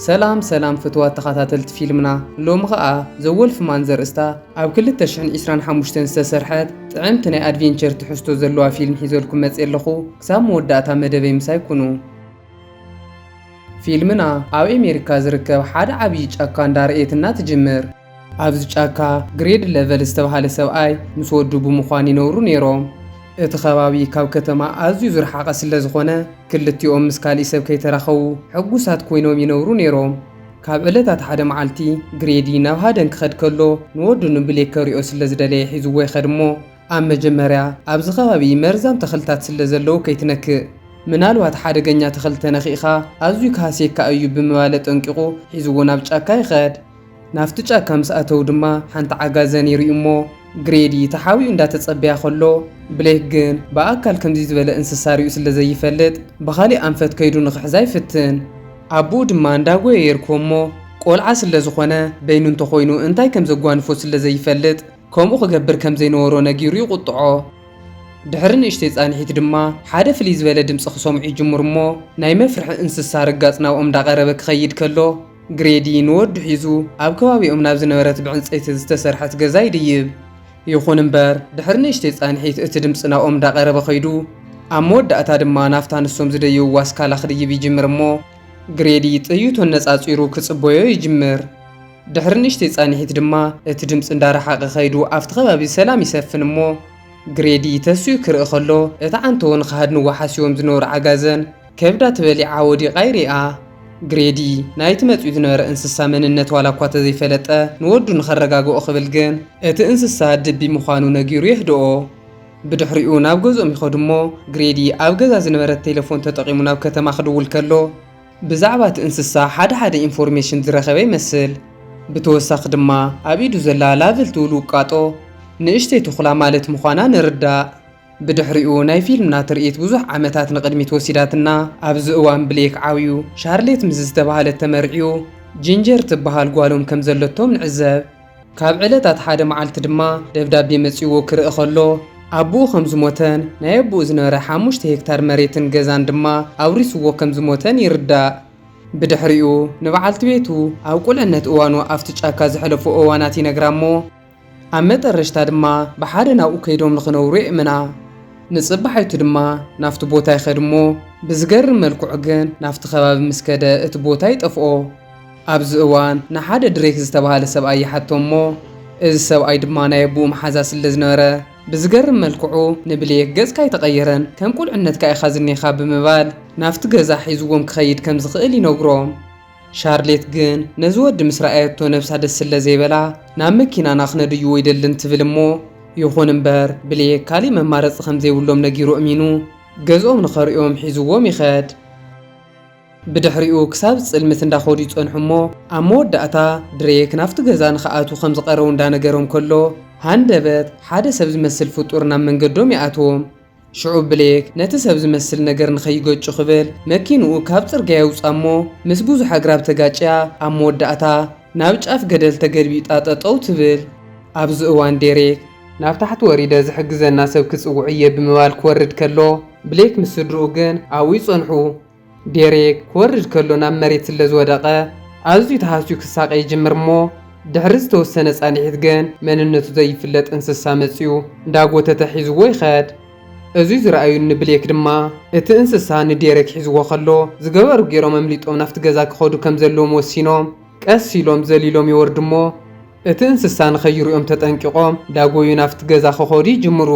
ሰላም ሰላም ፍትዋት ተኸታተልቲ ፊልምና ሎሚ ኸኣ ዘወልፍማን ዘርእስታ ኣብ 2025 ዝተሰርሐት ጥዕምቲ ናይ ኣድቬንቸር ትሕዝቶ ዘለዋ ፊልም ሒዘልኩም መጽ ኣለኹ ክሳብ መወዳእታ መደበይ ምሳይ ኩኑ ፊልምና ኣብ ኣሜሪካ ዝርከብ ሓደ ዓብዪ ጫካ እንዳርእየትና ትጅምር ኣብዚ ጫካ ግሬድ ለቨል ዝተብሃለ ሰብኣይ ምስ ወዱ ብምዃን ይነብሩ ነይሮም። እቲ ከባቢ ካብ ከተማ ኣዝዩ ዝረሓቐ ስለዝኾነ ክልቲኦም ምስ ካሊእ ሰብ ከይተራኸቡ ሕጉሳት ኮይኖም ይነብሩ ነይሮም። ካብ ዕለታት ሓደ መዓልቲ ግሬዲ ናብ ሃደን ክኸድ ከሎ ንወዱ ንብሌክ ከሪኦ ስለዝደለየ ሒዝዎ ይኸድ እሞ ኣብ መጀመርያ ኣብዚ ከባቢ መርዛም ተኽልታት ስለዘለዉ ከይትነክእ ምናልባት ሓደገኛ ተኽሊ ተነኺእኻ ኣዝዩ ክሃስየካ እዩ ብምባል ኣጠንቂቑ ሒዝዎ ናብ ጫካ ይኸድ። ናብቲ ጫካ ምስ ኣተዉ ድማ ሓንቲ ዓጋዘን ይርእዩ'ሞ፣ ግሬዲ ተሓቢኡ እንዳተጸበያ ከሎ፣ ብሌክ ግን ብኣካል ከምዚ ዝበለ እንስሳ ሪኡ ስለ ዘይፈልጥ ብኻሊእ ኣንፈት ከይዱ ንኽሕዛ ይፍትን። ኣቡኡ ድማ እንዳጎየ የርክቦ'ሞ፣ ቆልዓ ስለ ዝኾነ በይኑ እንተኾይኑ እንታይ ከም ዘጓንፎ ስለ ዘይፈልጥ ከምኡ ክገብር ከም ዘይነበሮ ነጊሩ ይቑጥዖ። ድሕሪ ንእሽተይ ጻንሒት ድማ ሓደ ፍልይ ዝበለ ድምጺ ክሰምዑ ይጅምሩ'ሞ፣ ናይ መፍርሒ እንስሳ ርጋጽ ናብኦም እንዳቐረበ ክኸይድ ከሎ፣ ግሬዲ ንወዱ ሒዙ ኣብ ከባቢኦም ናብ ዝነበረት ብዕንጸይቲ ዝተሰርሐት ገዛ ይድይብ። ይኹን እምበር፣ ድሕሪ ንእሽተይ ጻንሒት እቲ ድምጺ ናብኦም እንዳቐረበ ከይዱ። ኣብ መወዳእታ ድማ ናብታ ንሶም ዝደየብዋ ስካላ ክድይብ ይጅምር እሞ፣ ግሬዲ ጥይቱ ኣነጻጺሩ ክጽበዮ ይጅምር። ድሕሪ ንእሽተይ ጻንሒት ድማ እቲ ድምጺ እንዳረሓቐ ከይዱ ኣብቲ ከባቢ ሰላም ይሰፍን እሞ፣ ግሬዲ ተሲኡ ክርኢ ከሎ እቲ ዓንተቦ ንክሃድንዎ ሓሲቦም ዝነበሩ ዓጋዘን፣ ከብዳ ተበሊዓ ወዲቓ ይርኣ። ግሬዲ፣ ናይቲ መጺኡ ዝነበረ እንስሳ መንነት ዋላ እኳ ተዘይፈለጠ፣ ንወዱ ንኸረጋግኦ ክብል ግን፣ እቲ እንስሳ ድቢ ምዃኑ ነጊሩ የህድኦ። ብድሕሪኡ ናብ ገዝኦም ይኸዱ እሞ፣ ግሬዲ ኣብ ገዛ ዝነበረት ቴለፎን ተጠቒሙ ናብ ከተማ ክድውል ከሎ፣ ብዛዕባ እቲ እንስሳ ሓደ ሓደ ኢንፎርሜሽን ዝረኸበ ይመስል። ብተወሳኺ ድማ፣ ኣብ ኢዱ ዘላ ላቨል ትብል ውቃጦ፣ ንእሽተይ ተኹላ ማለት ምዃና ንርዳእ። ብድሕሪኡ ናይ ፊልምና ትርኢት ብዙሕ ዓመታት ንቕድሚት ወሲዳትና። ኣብዚ እዋን ብሌክ ዓብዩ፣ ሻርሌት ምስ ዝተበሃለት ተመርዕዩ፣ ጂንጀር ትበሃል ጓሎም ከም ዘለቶም ንዕዘብ። ካብ ዕለታት ሓደ መዓልቲ ድማ ደብዳቤ መጺኡዎ ክርኢ ከሎ፣ ኣቡኡ ከም ዝሞተን ናይ ኣቡኡ ዝነበረ ሓሙሽተ ሄክታር መሬትን ገዛን ድማ ኣውሪሱዎ ከም ዝሞተን ይርዳእ። ብድሕሪኡ ንበዓልቲ ቤቱ ኣብ ቁልዕነት እዋኑ ኣብቲ ጫካ ዘሕለፎ እዋናት ይነግራ'ሞ፣ ኣብ መጠረሽታ ድማ ብሓደ ናብኡ ከይዶም ንኽነብሩ የእምና። ንጽባሒቱ ድማ ናብቲ ቦታ ይኸድ እሞ ብዝገርም መልክዑ ግን ናብቲ ከባቢ ምስ ከደ እቲ ቦታ ይጠፍኦ። ኣብዚ እዋን ንሓደ ድሬክ ዝተባህለ ሰብኣይ ይሓቶ እሞ እዚ ሰብኣይ ድማ ናይ ኣቡኡ መሓዛ ስለ ዝነበረ ብዝገርም መልክዑ ንብሌክ ገጽካ ኣይተቐየረን ከም ቁልዕነትካ ኢኻ ዝኔኻ ብምባል ናብቲ ገዛ ሒዝዎም ክኸይድ ከም ዝኽእል ይነግሮ። ሻርሌት ግን ነዚ ወዲ ምስ ረኣየቶ ነብሳ ደስ ስለ ዘይበላ ናብ መኪናና ክነድዩ ወይደልን ትብል እሞ ይኹን እምበር ብሌክ ካሊእ መማረፂ ከም ዘይብሎም ነጊሩ እሚኑ ገዝኦም ንኸርእዮም ሒዝዎም ይኸድ። ብድሕሪኡ ክሳብ ዝፅልምት እንዳኸዱ ይፀንሑ እሞ ኣብ መወዳእታ ድሬክ ናብቲ ገዛ ንኸኣትዉ ከም ዝቐረቡ እንዳነገሮም ከሎ ሃንደበት ሓደ ሰብ ዝመስል ፍጡር ናብ መንገዶም ይኣትዎም። ሽዑ ብሌክ ነቲ ሰብ ዝመስል ነገር ንኸይገጩ ክብል መኪንኡ ካብ ጽርግያ የውጽኣ እሞ ምስ ብዙሕ ኣግራብ ተጋጭያ ኣብ መወዳእታ ናብ ጫፍ ገደል ተገልቢጣ ጠጠው ትብል። ኣብዚ እዋን ዴሬክ። ናብ ታሕቲ ወሪደ ዝሕግዘና ሰብ ክጽውዕ እየ ብምባል ክወርድ ከሎ ብሌክ ምስ ስድርኡ ግን ኣብኡ ይጸንሑ። ዴሬክ ክወርድ ከሎ ናብ መሬት ስለ ዝወደቐ ኣዝዩ ተሃስዩ ክሳቐ ይጅምር እሞ ድሕሪ ዝተወሰነ ፃንሒት ግን መንነቱ ዘይፍለጥ እንስሳ መፂኡ እንዳጎተተ ሒዝዎ ይኸድ። እዙይ ዝረኣዩ እኒ ብሌክ ድማ እቲ እንስሳ ንዴሬክ ሒዝዎ ከሎ ዝገበሩ ገይሮም ኣምሊጦም ናፍቲ ገዛ ክኸዱ ከም ዘለዎም ወሲኖም ቀስ ኢሎም ዘሊሎም ይወርዱ እሞ እቲ እንስሳ ንኸይሪኦም ተጠንቂቖም ዳጎዩ ናብቲ ገዛ ክኸዱ ይጅምሩ።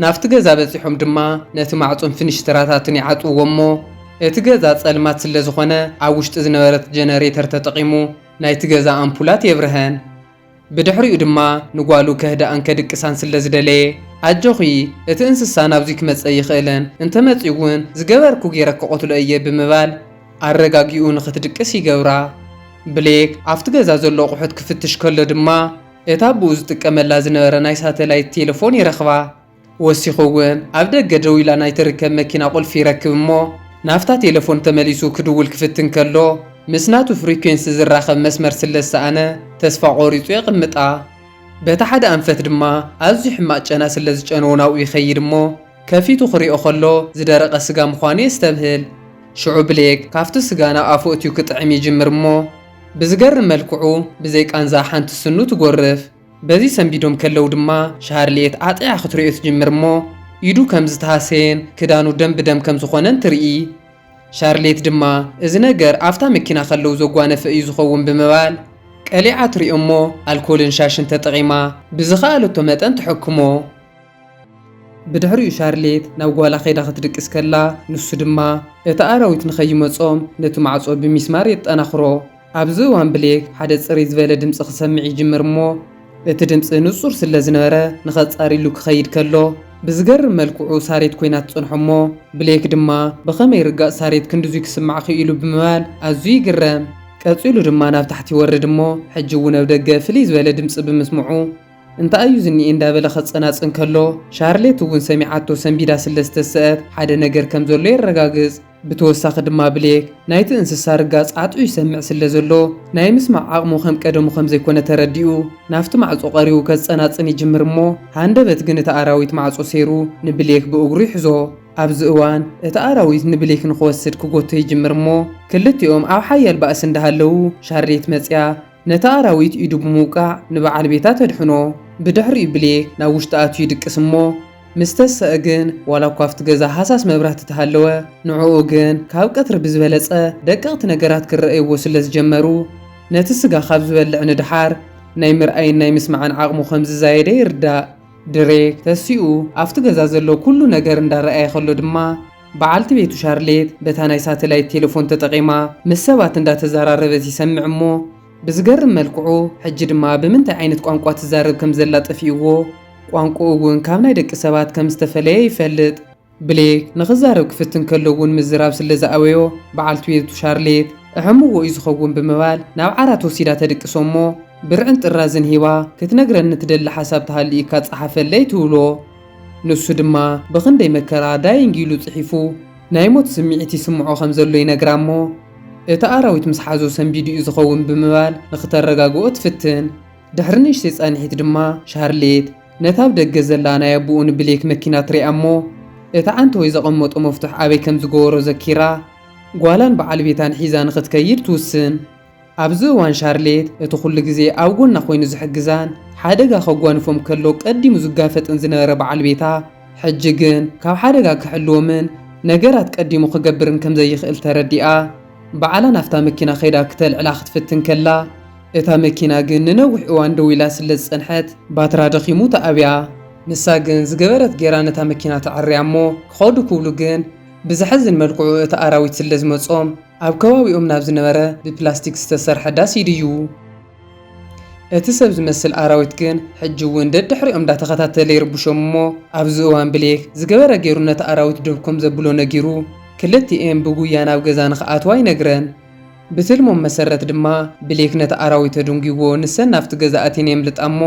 ናብቲ ገዛ በጺሖም ድማ ነቲ ማዕጾን ፍንሽትራታትን ይዓጽውዎ እሞ እቲ ገዛ ጸልማት ስለዝኾነ ኣብ ውሽጢ ዝነበረት ጀነሬተር ተጠቒሙ ናይቲ ገዛ ኣምፑላት የብርሀን። ብድሕሪኡ ድማ ንጓሉ ከህድኣን ከድቅሳን ስለዝደለየ ኣጆኺ እቲ እንስሳ ናብዙይ ክመጽእ ኣይኽእልን እንተመጽዩ እውን ዝገበርኩ ገይረ ክቐትሎ እየ ብምባል ኣረጋጊኡ ንኽትድቅስ ይገብራ። ብሌክ ኣብቲ ገዛ ዘሎ ኣቑሑት ክፍትሽ ከሎ ድማ እታ ኣቦኡ ዝጥቀመላ ዝነበረ ናይ ሳተላይት ቴለፎን ይረኽባ። ወሲኹ እውን ኣብ ደገ ደው ኢላ ናይ ትርከብ መኪና ቁልፊ ይረክብ እሞ ናብታ ቴለፎን ተመሊሱ ክድውል ክፍትን ከሎ ምስ ናቱ ፍሪኩዌንሲ ዝራኸብ መስመር ስለ ዝሰኣነ ተስፋ ቆሪፁ የቕምጣ። በቲ ሓደ ኣንፈት ድማ ኣዝዩ ሕማቕ ጨና ስለ ዝጨነዎ ናብኡ ይኸይድ እሞ ከፊቱ ክሪኦ ከሎ ዝደረቐ ስጋ ምዃኑ የስተብህል። ሽዑ ብሌክ ካብቲ ስጋ ናብ ኣፉ እትዩ ክጥዕም ይጅምር እሞ ብዝገርም መልክዑ ብዘይ ቃንዛ ሓንቲ ስኑ ትጎርፍ። በዚ ሰንቢዶም ከለው ድማ ሻርልየት ኣጥዒዓ ክትሪኦ ትጅምር እሞ ኢዱ ከም ዝተሃሰየን ክዳኑ ደም ብደም ከም ዝኾነን ትርኢ። ሻርልየት ድማ እዚ ነገር ኣፍታ መኪና ከለው ዘጓነፈ እዩ ዝኸውን ብምባል ቀሊዓ ትሪኦ እሞ ኣልኮልን ሻሽን ተጠቒማ ብዝኸኣለቶ መጠን ትሕክሞ። ብድሕሪኡ ሻርሌት ናብ ጓላ ከይዳ ክትድቅስ ከላ፣ ንሱ ድማ እቲ ኣራዊት ንኸይመጾም ነቲ ማዕጾ ብሚስማር የጠናኽሮ። ኣብዚ እዋን ብሌክ ሓደ ጽርይ ዝበለ ድምጺ ክሰምዕ ይጅምር እሞ እቲ ድምጺ ንጹር ስለ ዝነበረ ንኸጻርዩሉ ክኸይድ ከሎ ብዝገርም መልክዑ ሳሬት ኮይና ትጸንሖ እሞ ብሌክ ድማ ብኸመይ ርጋጽ ሳሬት ክንድዙይ ክስማዕ ክኢሉ ብምባል ኣዝዩ ይግረም። ቀጺሉ ድማ ናብ ታሕቲ ይወርድ እሞ ሕጂ እውን ኣብ ደገ ፍልይ ዝበለ ድምጺ ብምስምዑ፣ እንታይ እዩ ዝኒኤ እንዳበለ ከጸናጽን ከሎ፣ ሻርሌት እውን ሰሚዓቶ ሰንቢዳ ስለ ዝተሰእት፣ ሓደ ነገር ከም ዘሎ የረጋግጽ። ብተወሳኺ ድማ ብሌክ፣ ናይቲ እንስሳ ርጋጽ ዓጥዑ ይሰምዕ ስለ ዘሎ፣ ናይ ምስማዕ ዓቕሙ ከም ቀደሙ ከም ዘይኮነ ተረዲኡ፣ ናብቲ ማዕጾ ቀሪቡ ከጸናጽን ይጅምር እሞ፣ ሃንደበት ግን እቲ ኣራዊት ማዕጾ ሰይሩ ንብሌክ ብእግሩ ይሕዞ። ኣብዚ እዋን፣ እቲ ኣራዊት ንብሌክ ንክወስድ ክጎቶ ይጅምር እሞ፣ ክልቲኦም ኣብ ሓያል ባእሲ እንዳሃለዉ፣ ሻርሌት መጺኣ፣ ነታ ኣራዊት ኢዱ ብምውቃዕ ንበዓል ቤታ ተድሕኖ። ብድሕሪኡ ብሌክ ናብ ውሽጢ ኣትዩ ይድቅስ እሞ ምስ ተሰእ ግን ዋላ እኳ ኣብቲ ገዛ ሃሳስ መብራህቲ ተሃለወ ንዕኡ ግን ካብ ቀትሪ ብዝበለጸ ደቀቕቲ ነገራት ክረኣይዎ ስለ ዝጀመሩ ነቲ ስጋ ካብ ዝበልዕ ንደሓር ናይ ምርኣይን ናይ ምስማዕን ዓቕሙ ከም ዝዛየደ ይርዳእ። ድሬክ ተሲኡ ኣብቲ ገዛ ዘሎ ኩሉ ነገር እንዳረኣየ ከሎ ድማ። በዓልቲ ቤቱ ሻርሌት በታ ናይ ሳተላይት ቴለፎን ተጠቒማ ምስ ሰባት እንዳተዘራረበት ይሰምዕ እሞ ብዝገርም መልክዑ ሕጂ ድማ ብምንታይ ዓይነት ቋንቋ ትዛረብ ከም ዘላ ጠፊኡዎ ቋንቁኡ እውን ካብ ናይ ደቂ ሰባት ከም ዝተፈለየ ይፈልጥ። ብሌክ ንኽዛረብ ክፍትን ከሎ እውን ምዝራብ ስለ ዝኣበዮ በዓልቲ ቤቱ ሻርሌት እሕምዎ እዩ ዝኸውን ብምባል ናብ ዓራት ወሲዳ ተድቅሶ እሞ ብርዕን ጥራዝን ሂባ ክትነግረኒ ትደሊ ሓሳብ ተሃልዩካ ጸሓፈለይ ትብሎ። ንሱ ድማ ብኽንደይ መከራ ዳይንግ ኢሉ ጽሒፉ ናይ ሞት ስምዒት ይስምዖ ከም ዘሎ ይነግራ እሞ እቲ ኣራዊት ምስ ሓዞ ሰንቢዱ'ዩ ዝኸውን ብምባል ንኽተረጋግኦ ትፍትን። ድሕሪ ንእሽተይ ጻንሒት ድማ ሻርሌት ነታ ኣብ ደገ ዘላ ናይ ኣቡኡ ንብሌክ መኪና ትሪኣ እሞ እቲ ዓንተወይ ዘቐመጦ መፍቱሕ ኣበይ ከም ዝገበሮ ዘኪራ ጓላን በዓል ቤታን ሒዛ ንኽትከይድ ትውስን። ኣብዚ እዋን ሻርሌት እቲ ዅሉ ግዜ ኣብ ጐና ዀይኑ ዝሕግዛን ሓደጋ ኼጓንፎም ከሎ ቀዲሙ ዝጋፈጥን ዝነበረ በዓል ቤታ፣ ሕጂ ግን ካብ ሓደጋ ኪሕልዎምን ነገራት ቀዲሙ ኺገብርን ከም ዘይክእል ተረዲኣ። ባዕላ ናብታ መኪና ኸይዳ ክተልዕላ ኽትፍትን ከላ፣ እታ መኪና ግን ንነዊሕ እዋን ደው ኢላ ስለ ዝጸንሐት፣ ባትራ ደኺሙ ተኣብያ። ንሳ ግን ዝገበረት ገይራ ነታ መኪና ተዐርያ እሞ፣ ክኸዱ ክብሉ ግን ብዘሕዝን መልክዑ እቲ ኣራዊት ስለ ዝመጾም፣ ኣብ ከባቢኦም ናብ ዝነበረ ብፕላስቲክ ዝተሰርሐ ዳስ ይድይቡ። እቲ ሰብ ዝመስል ኣራዊት ግን ሕጂ እውን ደድሕሪኦም እንዳተኸታተለ ይርብሾም እሞ ኣብዚ እዋን ብሌክ ዝገበረ ገይሩ ነቲ ኣራዊት ደው ከም ዘብሎ ነጊሩ ክልቲኤን ብጉያ ናብ ገዛ ንክኣትዋ ይነግረን። ብትልሞም መሰረት ድማ ብሌክ ነቲ ኣራዊት ኣዱንጊዎ ንሰን ናብቲ ገዛ ኣትየን የምልጣ እሞ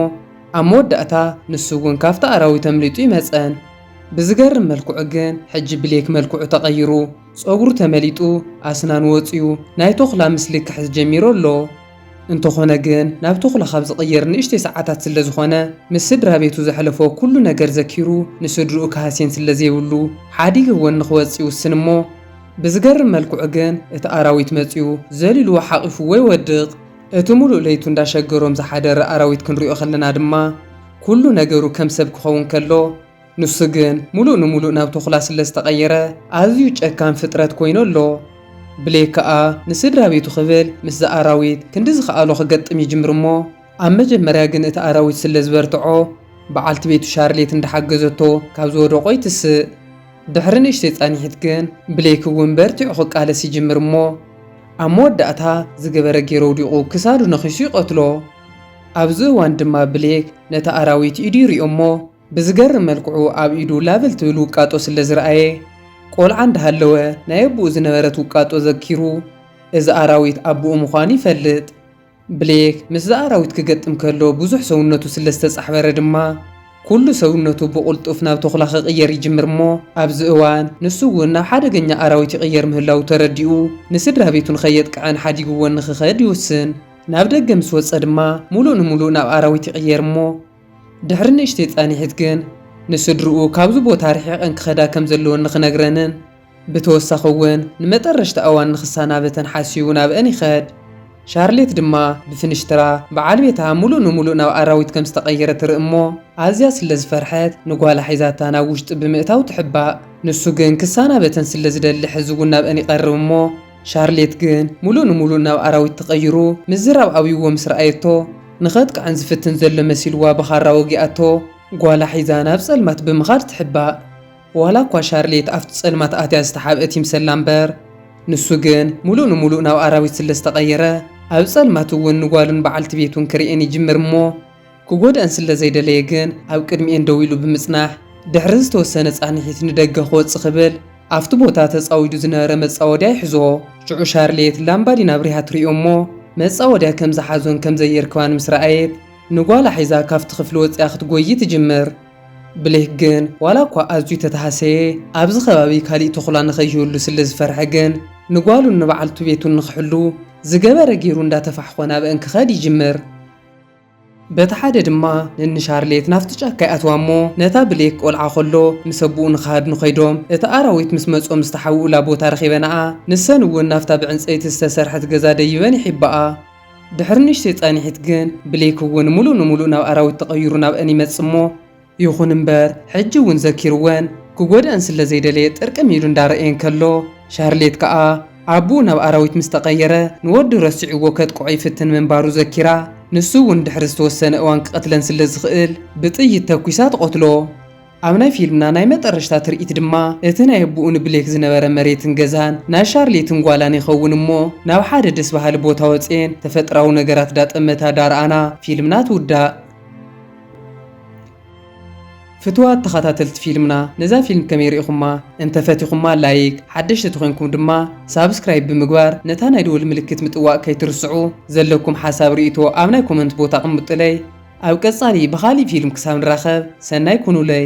ኣብ መወዳእታ ንሱ እውን ካብቲ ኣራዊት ኣምሊጡ ይመፀን። ብዝገርም መልክዑ ግን ሕጂ ብሌክ መልክዑ ተቐይሩ። ጸጉሩ ተመሊጡ ኣስናኑ ወጺኡ ናይ ቶኽላ ምስሊ ክሕዝ ጀሚሩ ኣሎ። እንተኾነ ግን ናብ ቶኽላ ካብ ዝቕየር ንእሽተይ ሰዓታት ስለ ዝኾነ ምስ ስድራቤቱ ዘሕለፎ ኩሉ ነገር ዘኪሩ ንስድርኡ ክሃስየን ስለ ዘይብሉ ሓዲገ ወኒ ክወጽእ ይውስን እሞ ብዝገርም መልክዑ ግን እቲ ኣራዊት መጺኡ ዘሊሉዎ ሓቒፉዎ ይወድቕ። እቲ ሙሉእ ለይቱ እንዳሸገሮም ዝሓደረ ኣራዊት ክንሪኦ ከለና ድማ ኩሉ ነገሩ ከም ሰብ ክኸውን ከሎ ንሱ ግን ሙሉእ ንሙሉእ ናብ ተኹላ ስለ ዝተቐየረ ኣዝዩ ጨካን ፍጥረት ኮይኑ ኣሎ። ብሌክ ከኣ ንስድራቤቱ ክብል ምስዛ ኣራዊት ክንዲ ዝክኣሎ ክገጥም ይጅምር እሞ ኣብ መጀመርያ ግን እቲ ኣራዊት ስለ ዝበርትዖ ብዓልቲ ቤቱ ሻርሌት እንዳሓገዘቶ ካብ ዝወደቖ ይትስእ። ድሕሪ ንእሽተይ ጻኒሒት ግን ብሌክ እውን በርቲዑ ክቃለስ ይጅምር እሞ ኣብ መወዳእታ ዝገበረ ጌሩ ኣውዲቑ ክሳዱ ነኺሱ ይቐትሎ። ኣብዚ እዋን ድማ ብሌክ ነቲ ኣራዊት ኢዱ ይሪኦ እሞ ብዝገርም መልክዑ ኣብ ኢዱ ላበል ትብል ውቃጦ ስለ ዝረኣየ፣ ቆልዓ እንዳሃለወ ናይ ኣቡኡ ዝነበረት ውቃጦ ዘኪሩ፣ እዚ ኣራዊት ኣቡኡ ምዃኑ ይፈልጥ። ብሌክ ምስዛ ኣራዊት ክገጥም ከሎ ብዙሕ ሰውነቱ ስለ ዝተጻሕበረ ድማ፣ ኩሉ ሰውነቱ ብቕልጡፍ ናብ ተኹላ ክቕየር ይጅምር እሞ፣ ኣብዚ እዋን ንሱ እውን ናብ ሓደገኛ ኣራዊት ይቕየር ምህላዉ ተረዲኡ፣ ንስድራ ቤቱ ንኸየጥቅዐን ሓዲግወን ንኽኸድ ይውስን። ናብ ደገ ምስ ወጸ ድማ፣ ምሉእ ንምሉእ ናብ ኣራዊት ይቕየር እሞ፣ ድሕሪ ንእሽተይ ጻኒሒት ግን ንስድርኡ ካብዚ ቦታ ርሒቐን ክኸዳ ከም ዘለወን ንኽነግረንን ብተወሳኺ እውን ንመጠረሽታ እዋን ንኽሳናበተን ሓሲቡ ናብኣን ይኸድ። ሻርሌት ድማ ብፍንሽትራ ብዓል ቤታ ምሉእ ንምሉእ ናብ ኣራዊት ከም ዝተቐየረ ትርኢ እሞ ኣዝያ ስለ ዝፈርሐት ንጓላ ሒዛታ ናብ ውሽጢ ብምእታው ትሕባእ። ንሱ ግን ክሳናበተን ስለ ዝደሊ ሕዚ እውን ናብኣን ይቐርብ እሞ ሻርሌት ግን ምሉእ ንምሉእ ናብ ኣራዊት ተቐይሩ ምዝራብ ኣብይዎ ምስ ረኣየቶ፣ ንኸጥቅዐን ዝፍትን ዘሎ መሲልዋ ብኻራ ወጊኣቶ ጓላ ሒዛ ናብ ጸልማት ብምኻድ ትሕባእ። ዋላኳ ሻርሌት ኣብቲ ጸልማት ኣትያ ዝተሓብአት ይምሰላ እምበር፣ ንሱ ግን ምሉእ ንምሉእ ናብ ኣራዊት ስለዝተቐየረ፣ ኣብ ጸልማት'ውን ንጓሉን በዓልቲ ቤቱን ክርእየን ይጅምር እሞ፣ ክጎድኣን ስለ ዘይደለየ ግን ኣብ ቅድሚኤን ደው ኢሉ ብምጽናሕ ድሕሪ ዝተወሰነ ጻንሒት ንደገ ክወጽእ ክብል ኣብቲ ቦታ ተጻዊዱ ዝነበረ መጻወድያ ይሕዞ። ሽዑ ሻርልየት ላምባዲን ኣብሪሃ ትሪኦ እሞ መጻወድያ ከም ዝሓዞን ከም ዘየርክባን ምስ ረኣየት ንጓላ ሒዛ ካብቲ ክፍሊ ወጺኣ ክትጎዪ ትጅምር። ብሌክ ግን ዋላ እኳ ኣዝዩ ተተሃሰየ ኣብዚ ከባቢ ካሊእ ተኹላ ንከይህሉ ስለ ዝፈርሐ ግን ንጓሉን ንበዓልቱ ቤቱን ንክሕሉ ዝገበረ ጌሩ እንዳተፋሕኾ ናበእን ክኸድ ይጅምር። በቲ ሓደ ድማ ነንሻርሌት ናብቲ ጫካ ይኣትዋ እሞ ነታ ብሌክ ቆልዓ ከሎ ምስ ኣቡኡ ንክሃድኑ ከይዶም እቲ ኣራዊት ምስ መጾም ዝተሓውኡላ ቦታ ረኺበናኣ ንሰን እውን ናብታ ብዕንጸይቲ ዝተሰርሐት ገዛ ደይበን ይሒባኣ ድሕሪ ንእሽተይ ጻኒሒት ግን ብሌክ እውን ሙሉእ ንሙሉእ ናብ ኣራዊት ተቀይሩ ናብኣን ይመጽእ እሞ ይኹን እምበር ሕጂ እውን ዘኪርወን ክጎድኣን ስለ ዘይደለየ ጥርቅም ኢሉ እንዳረኣየን ከሎ ሻርሌት ከኣ ኣቡኡ ናብ ኣራዊት ምስ ተቐየረ ንወዱ ረሲዕዎ ከጥቅዖ ይፍትን ምንባሩ ዘኪራ ንሱ እውን ድሕሪ ዝተወሰነ እዋን ክቐትለን ስለ ዝኽእል ብጥይት ተኲሳ ትቐትሎ። ኣብ ናይ ፊልምና ናይ መጠረሽታ ትርኢት ድማ እቲ ናይ ኣቡኡ ንብሌክ ዝነበረ መሬትን ገዛን ናይ ሻርሌትን ጓላን ይኸውን እሞ ናብ ሓደ ደስ በሃሊ ቦታ ወጽየን ተፈጥራዊ ነገራት ዳጠመታ ዳረኣና ፊልምና ትውዳእ። ፍትዋት ተኻታተልቲ ፊልምና ነዛ ፊልም ከመይ ሪኢኹማ እንተ ፈቲኹማ ላይክ ሓደሽቲ ተኾይንኩም ድማ ሳብስክራይብ ብምግባር ነታ ናይ ደወል ምልክት ምጥዋቅ ከይትርስዑ ዘለኩም ሓሳብ ሪኢቶ ኣብ ናይ ኮመንት ቦታ ኣቅምጡለይ ኣብ ቀጻሊ ብኻሊእ ፊልም ክሳብ ንራኸብ ሰናይ ኩኑለይ።